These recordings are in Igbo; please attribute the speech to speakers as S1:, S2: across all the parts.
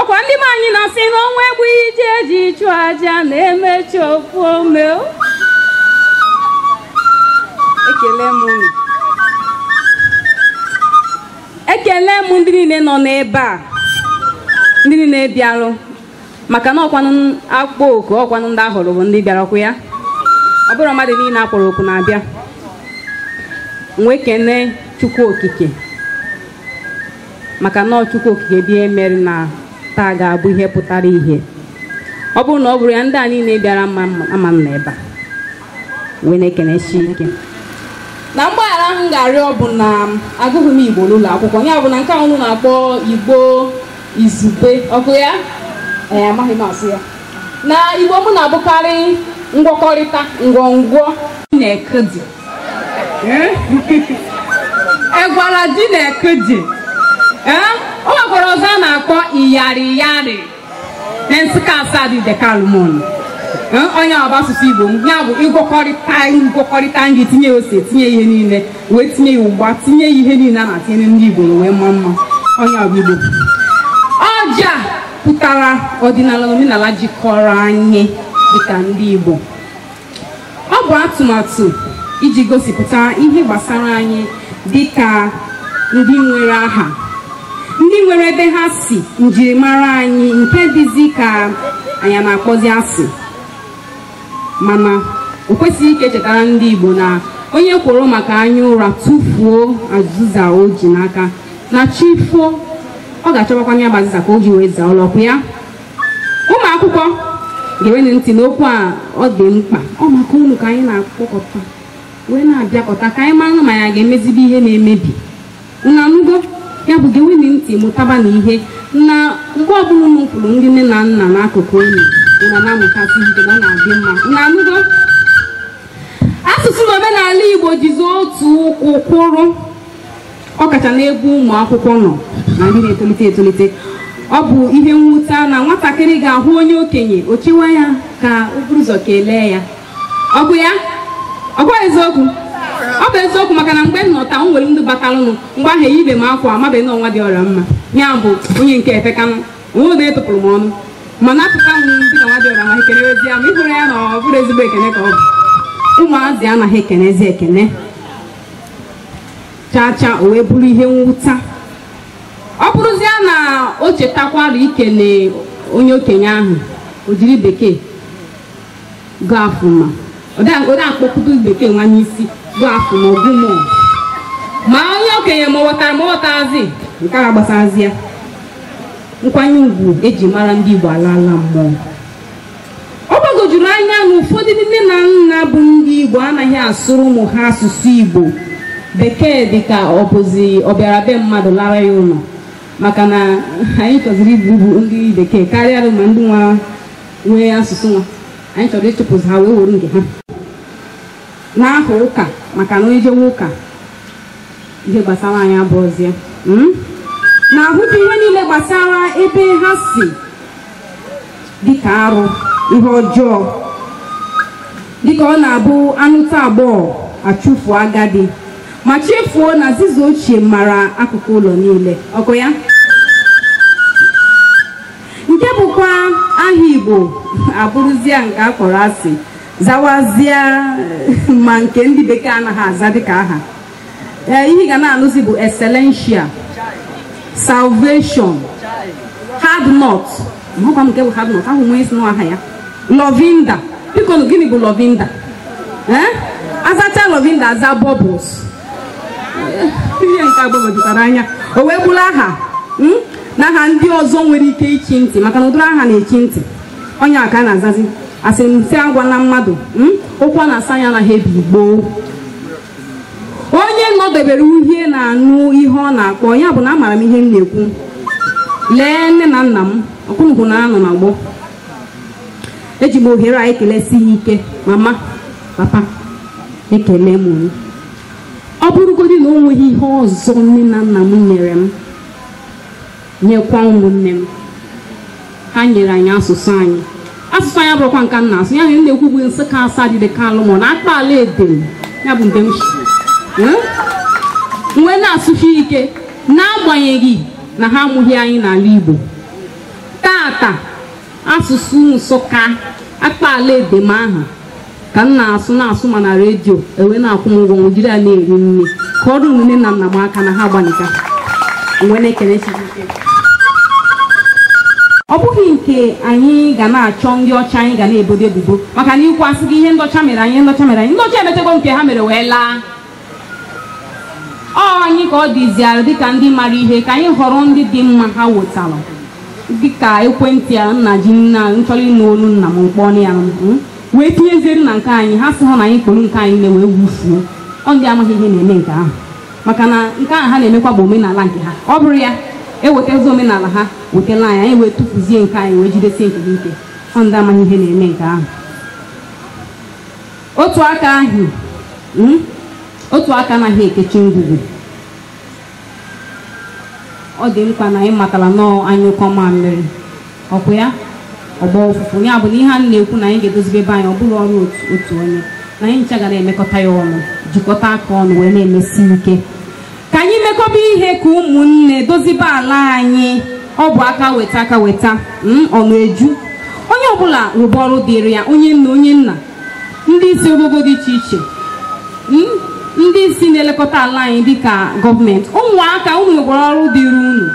S1: ọkwa ndị be anyị na-asị na ọnwụ egbughị ji e ji chụ aja na e mechaa o fuo ome o. ekele m unu ekele m ndị niile nọ n'ebe a ndị niile bịarụ maka na ọkwanụ a kpọọ oku ọkwanụ ndị a hụrụ bụ ndị bịara ọkwa ya ọ bụrọ mmadụ niile a kpọrọ oku na-abịa m wee kene chukwu okike maka na ọ chukwu okike dị emere na taa ga-abụ ihe pụtara ihe ọ bụrụ na ọ bụrọ ya ndị a niile bịara ama anọ n'ebe a wee na-ekenesi ike na mgbaghara m ga-arịọ bụ na agụghị m igbo n'ụlọ akwụkwọ ya bụ na nke ahụ unu na-akpọ igbo izugbe ọkwa ya ee amaghị m asụ ya na igbo m na-abụkarị ngwọkọrịta ngwọngwọ na-ekedi Eh? egwara di na ekeji Eh? o nwekwara ọzọ a na-akpọ iyari iyari na nsụka asaa dị dekalmon ọ ya bụ asụsụ igbo m ya bụ ịgwọkọrịta ngwọkọrịta nri tinye ose tinye ihe niile wee tinye ya ụgba tinye ya ihe niile a na-etinye ndị igbo wee maa mma ọ ya bụ igbo ọja pụtara ọdịnala na omenala jikọrọ anyị dịka ndị igbo Ọ bụ atụmatụ iji gosipụta ihe gbasara anyị dị ka ndị nwere aha ndị nwere ebe ha si njirimara anyị nke dịzi ka anyị na-akpọzi asị mana o kwesịrị ka e chetara ndị Igbo na onye kworo maka anya ụra tụfuo azịza o ji n'aka na chi foo ọ ga-achọbakwa ya bụ azịza ka o ji wee zaa ụlọ ọkwa ya ụmụ akwụkwọ gewenụ ntị n'okwu a ọ dị mkpa ọ maka unu ka anyị na-akpọkọta wee na-abịakọta ka anyị mara ma anyị ga-emezibe ihe na-emebi unu anụgo ya bụ gewenụ ntị mụtabanụ ihe na mgbe ọbụla unu kwụrụ ndị nne na nna n'akụkụ unu unu na-amụtasị ihe na ọ na-adị mma unu anụgo asụsụ na omenala igbo jizi otu ụkwụ kwụrụ ọ kacha n'ebe ụmụ akwụkwọ nọ na ndị na-etolite etolite ọ bụ ihe mwute na nwatakịrị ga-ahụ onye okenye o chewa ya ka o buru ụzọ kelee ya ọkwa ya ọ bụ eziokwu ọ bụ eziokwu maka na mgbe m nọ taa m nwere ndị batalụnụ mgbe ahụ eyibe m akwa amabeghị na ọ nwa dị ọra mma ya bụ onye nke efekanụ onwe odo etụpụrụ m ọnụ mana apụta m ndị na nwa dị ọra mma ekele ozi ya ma ị hụrụ ya na ọ bụrọ ezigbo ekele ka ọ bụ ụmụazị anaghị ekenezi ekene chaa chaa o wee bụrụ ihe mwute ọ bụrụzie na o chetakwara ikele onye okenye ahụ o jiri bekee good afternoon ma ode akpọkụta bekee nwa n'isi good afternoon ma good morning ma onye okenye ma ọ ghọtara ma ọ ghọtazi nke a gbasazia nkwanye ugwu eji mara ndị Igbo alaa ala mmụọ ọ gbagojuru anya na ụfọdụ ndị nne na nna bụ ndị igbo anaghị asụrụ ụmụ ha asụsụ igbo bekee dịka ọ bụzi ọbịara be mmadụ lara ya ụlọ maka na anyị chọziri ịbụ ndị bekee karịa ma ndị nwa nwe asụsụ nwa anyị chọrọ ịchụpụzi ha wee were nke ha n'aha ụka maka na onye jewe ụka ihe gbasara anyị abụrụzie na-ahụta ihe niile gbasara ebe ha si dịka arụ ihe ọjọọ dịka ọ na-abụ anụta agbọghọ achụfuo agadi ma chefuo na aziza ochie mara akụkụ ụlọ niile ọkụ ya nke bụkwa aha igbo abụrụzia nke a kpọrọ asị zawazie ma nke ndị bekee anaghị aza dịka aha ee ihe ị ga na-anụzi bụ excellencia salvation hard nut amakwa m nke bụ hard nut ahụ wee sị na aha ya lovinda biko gịnị bụ lovinda ee azacha lovinda aza bubbles ihe nke a gbagojutara anya o wee bụrụ aha na aha ndị ọzọ nwere ike ichi ntị maka na ụdịrị aha na-echi ntị onye a ka a na-azazi asị m sị agwa na mmadụ okwu a na-asọ anya anaghị ebi gboo onye nọdebere uhie na-anụ ihe ọ na-akpọ ya bụ na amara m ihe m na-ekwu lee nne na nna m ọkwụnụkwụ na anọ na gboo eji m ohere a ekelesi ha ike mama papa ekele m unu ọ bụrụgodị na o nweghị ihe ọzọ nne na nna m nyere m nyekwa ụmụnne m ha nyere anyị asụsụ anyị asụsụ anyị abụrụkwa nke m na-asụ ihe m na-ekwu bụ nsụka asadu ideke alumona akpaala edem ya bụ nke m si wee na-asụsi ike n'agbanyeghị na ha amụghị anyị n'ala Igbo tata asụsụ nsụka akpaala edem ahụ ka m na-asụ na-asụ ma na redio e wee na-akwụ m ụgwọ m jiri ya na-eri nri ka ọ dịrị nne na nna m mma maka na ha agbanika mgbe na-ekene Chukwu ike. ọ bụghị nke anyị ga na-achọ ndị ọcha anyị ga na-ebodo ebubo maka na e kwuo a sị gị ihe ndị ọcha mere anyị ihe ndị ọcha mere anyị ndị ọcha emetego nke ha mere wee laa ọ anyị ka ọ dịziara dịka ndị mara ihe ka anyị họrọ ndị dị mma ha wetara dịka ekwentị a m na-eji m chọrọ ịnụ olu nna m m kpọọ ya hmm? wee tinyezie na nke anyị asịghị na anyị kporo nke anyị na wee wufuo ọ ndị amaghị ihe na-eme nke ahụ maka na nke ahụ ha na-emekwa bụ omenala nke ha ọ bụrụ ya ewetazi omenala ha wetala anyị anyị wee tụfuzie nke anyị wee jidesie nke ike ọ ndị amaghị ihe na-eme nke ahụ otu aka ahụ mm, otu aka anaghị ekechi ngwugwu ọ dị mkpa na anyị matara na anyụkọọ mamịrị ọkwa ya ọ gbaa ụfụfụ ya bụ na ihe a na-ekwu na anyị ga-edozibe ebe anyị ọ bụghị ọrụ otu otu onye na anyị ncha ga na-emekọta ya ọnụ jikọta aka ọnụ wee na-emesi ike ka anyị mekọba ihe ka ụmụnne dozibe ala anyị ọ bụ aka weta aka weta mm, ọnụ eju onye ọbụla rụba ọrụ dịrị ya onye nna onye nna ndị isi ogogo dị iche iche m, ndị isi na-elekọta ala anyị dịka gọọmenti ụmụaka unu nwekwara ọrụ dịrị unu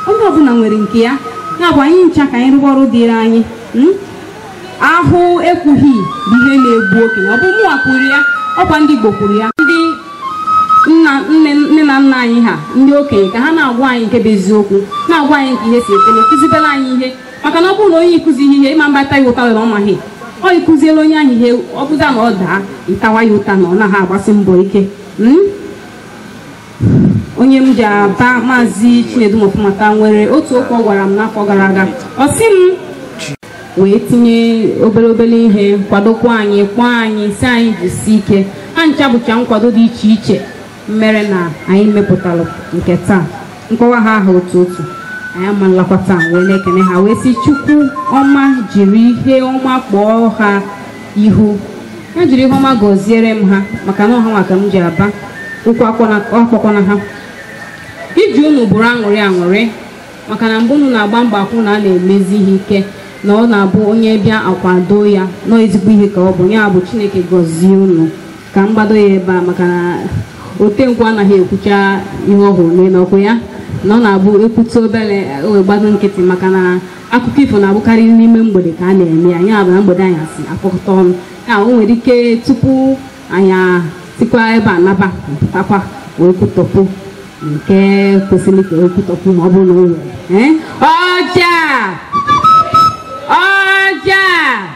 S1: onye ọbụla nwere nke ya ya bụ anyị ncha ka anyị rụwa ọrụ dịrị anyị m? ahụ ekwughị bụ ihe na-egbu okenye ọ bụ mụnwa kwuru ya ọkwa ndị Igbo kwuru ya ndị nna nne nne na nna anyị ha ndị okenye ka ha na-agwa anyị nke bụ eziokwu na-agwa anyị ka ihe si kwụrụ kụzibere anyị ihe maka na ọ bụrụ na onye ị kụzighị ihe ị ma mba ta ya ụta were ọ maghị ọ ị kụziere onye ahụ ihe ọ bụzie na ọ daa ị tawa ya ụta na ọ naghị agbasi mbọ ike Mm? onye m ji aba maazị chinedu mọfụmata nwere otu okwu ọ gwara m n'afọ gara aga ọ sị m wee tinye obere obere ihe kwadokwa anyị kpọọ anyị sị anyị jisie ike ha ncha bụcha nkwado dị iche iche mere na anyị mepụtara nke taa m kpọwa ha aha otu otu anyị ama nlakwa taa wee na-ekene ha wee sị chukwu ọma jiri ihe ọma kpọọ ha ihu ya jiri ihe ọma gọziere m ha maka na ọ hanwa ka m ji aba ụkwụ akpọkwana ha iji unu bụrụ aṅụrị aṅụrị maka na mgbe unu na-agba mgba akwụ na a na-emezi ihe ike na ọ na-abụ onye bịa a kwado ya na ọ ezigbo ihe ka ọ bụ ya bụ chineke gọzie unu ka m gbado ya ebe a maka na otenkwụ anaghị ekwucha ihe ọ hụrụ n'elu ọkwa ya na ọ na-abụ ekwutụ obere o wee gbatụ nkịtị maka na akụkọ ifo na-abụkarị n'ime mgbede ka a na-eme ya ya bụ na mgbede anyasị akpọkọta ọnụ ya o nwere ike tupu anyị sikwa ebe a naba pụtakwa wee kwutọpụ nke kwesịrị ka e kwutọpụ ma ọ bụrụ na o nwere ee ọja ọja